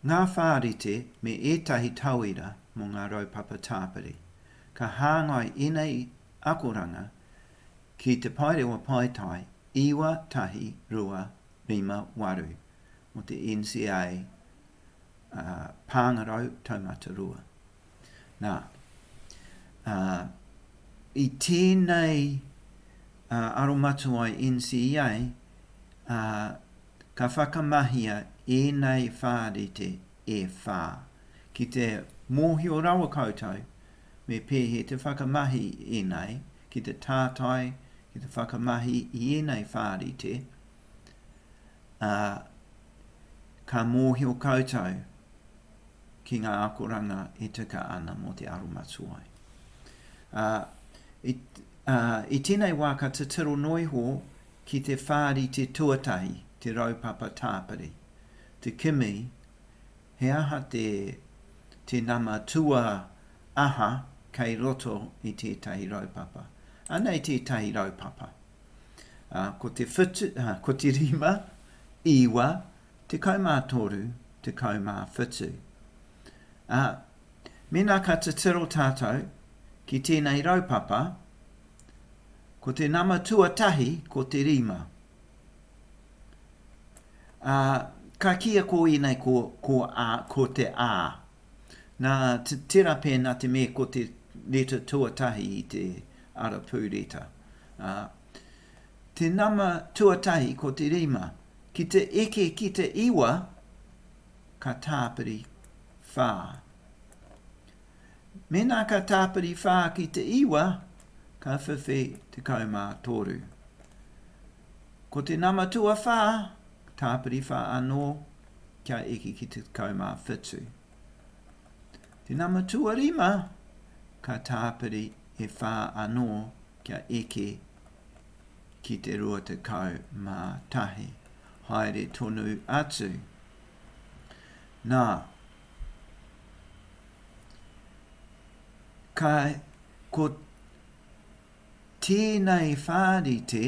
Ngā whārite me ētahi tauira mō ngā raupapa tāpiri. Ka hāngai ēnei akoranga ki Te Paerewa Paetae 9258 mō te NCA ā, Pāngarau Taumata Rua. Nā, ā, i tēnei, ā, aromatuai NCEA, ā, ka whakamahia ēnei whārite e whā, ki te mōhio rawa koutou me pēhea te whakamahi ēnei, ki te tātai, ki te whakamahi i ēnei whārite, ā, ka mōhio koutou. ki ngā akoranga e tika ana mō te aromatuai. Ā, i, ā, i tēnei wā ka titiro noa iho ki te whārite tuatahi, te raupapa tāpiri, te kimi, he aha te, te nama tua aha kei roto i tētahi raupapa. Anei tētahi raupapa. Ā, ko te whitu, ā, ko te rima, iwa, Tekau mā toru, tekau mā whitu. Ā, mēnā ka titiro tātou ki tēnei raupapa, ko te nama tuatahi ko te rima. Ā, ka kīia ko ēnei ko, ko, ā, ko te ā. Nā, tērā pēnā te me ko te reta tuatahi i te arapū reta. Ā, te nama tuatahi ko te rima. Ki te eke ki te iwa, ka tāpiri whā. Mēnā ka tāpiri whā ki te iwa, ka whiwhi tekau mā toru. Ko te nama tuawhā, tāpiri whā anō, kia eke ki te tekau mā whitu. Te nama tuarima, ka tāpiri e whā anō Kia eke ki te 21, haere tonu atu. Nā, ka, ko tēnei whārite,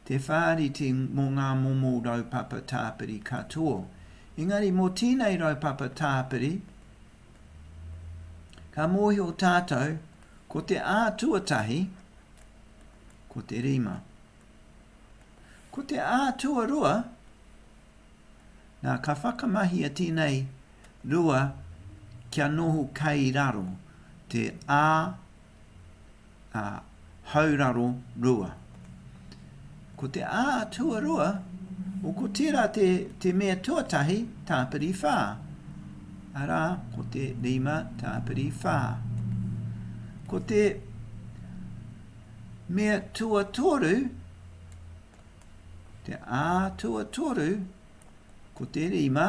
te whārite mō ngā momo raupapa tāpiri katoa. Engari mō tēnei raupapa tāpiri, ka mōhio tātou, Ko te ā tuatahi, ko te rima. Ko te ā tuarua, nā, ka whakamahia tēnei rua kia noho kei raro, te ā, ā, hauraro rua. Ko te a tuarua, o ko tērā te, te mea tuatahi, tāpiri whā. Arā, ko te rima tāpiri whā. Ko te mea tuatoru, te a tuatoru, ko te rima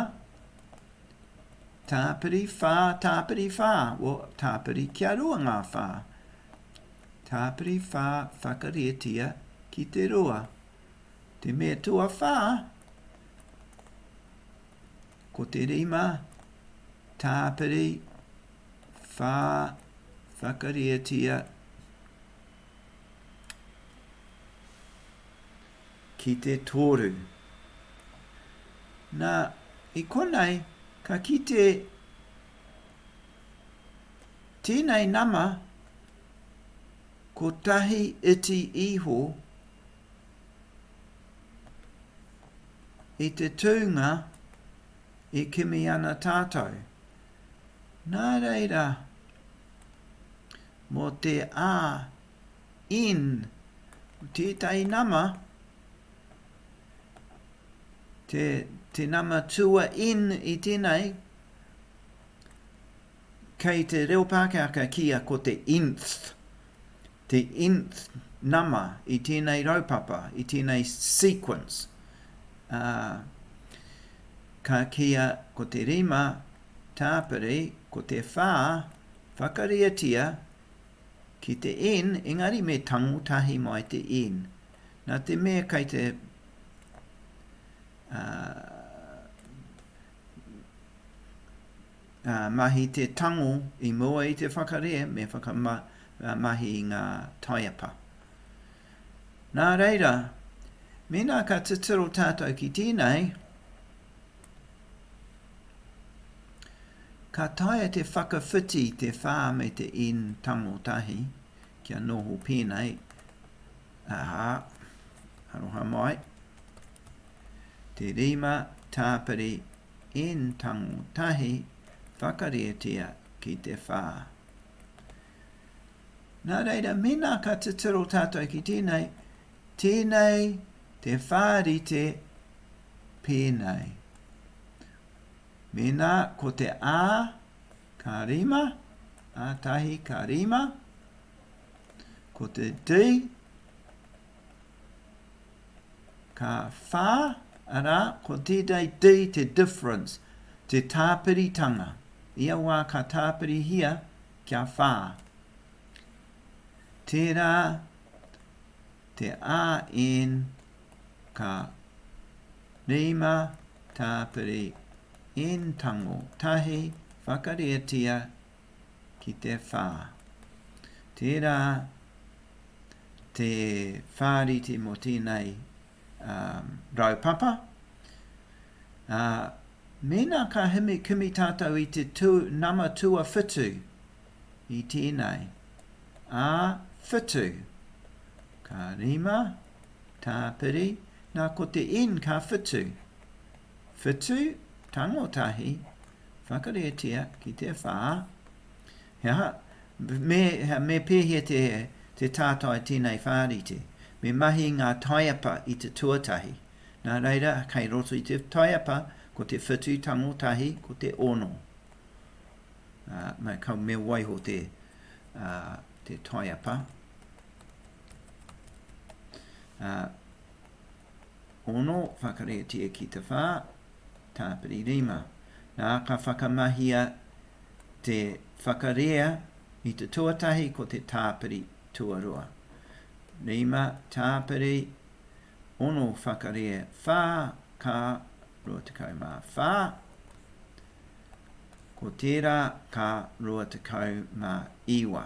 tāpiri whā, tāpiri whā, o tāpiri kia rua ngā whā. Tāpiri whā whakarietia ki te rua. Te me tuawhā, ko te rima tāpiri whā whakarietia ki te toru. Nā, i konei ka kite Tēnei nama, kotahi iti iho i te tūnga e kimi ana tātou. Nā reira, mō te AN, tētahi nama, te, te nama tua N i tēnei, Kei te reo Pākehā ka kīia ko te nth, te nth nama i tēnei raupapa, i tēnei sequence, ā, ka kīia ko te rima tāpiri, ko te whā, whakariatia ki te n, engari me tango tahi mai te n. Nā te mea kei te, ā, Mahi te tango i mua i te whakarehe me whakamahi i ngā taiapa. Nā reira, mēnā ka titiro tātou ki tēnei, ka taea te whakawhiti te whā me te in tango tahi kia noho pēnei, aha, aroha mai, te rima tāpiri in tango tahi whakarietia ki te whā. Nā reira, mēnā ka titiro tātou ki tēnei, tēnei te whārite pēnei. Mēnā ko te ā, ka rima, ā tahi ka rima, ko te dī, Ka whā, arā, ko tētai te i te difference, te tāpiritanga, ia wā ka tāpirihia kia whā. Tērā te AN ka rima tāpiri N tango tahi whakarietia ki te whā. Tērā te whāriti mō tēnei um, raupapa, ā, uh, mēnā ka himi kimi tātou i te tū, nama tua whitu i tēnei, ā whitu, ka rima, tāpiri, nā ko te in ka whitu, Whetū, tango tahi, whakareatia ki te whā, he aha, me, me pēhea te, te tātai tēnei whārite? Me mahi ngā taiapa i te tuatahi. Nā reira, kei roto i te taiapa, ko te whetū tango tahi, ko te ono. Uh, me, ka, me waiho te, uh, te taiapa. Uh, Ono, whakaretia ki te whā, tāpiri rima. Nā, ka whakamahia te whakarea i te tuatahi ko te tāpiri tuarua. Rima, tāpiri, ono, whakarea, whā, ka, 24. Ko tērā ka 29.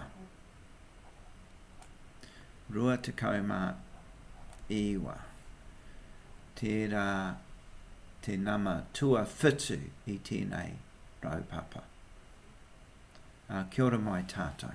29. Tērā te nama tuawhitu i tēnei raupapa. Ā, kia ora mai tātou.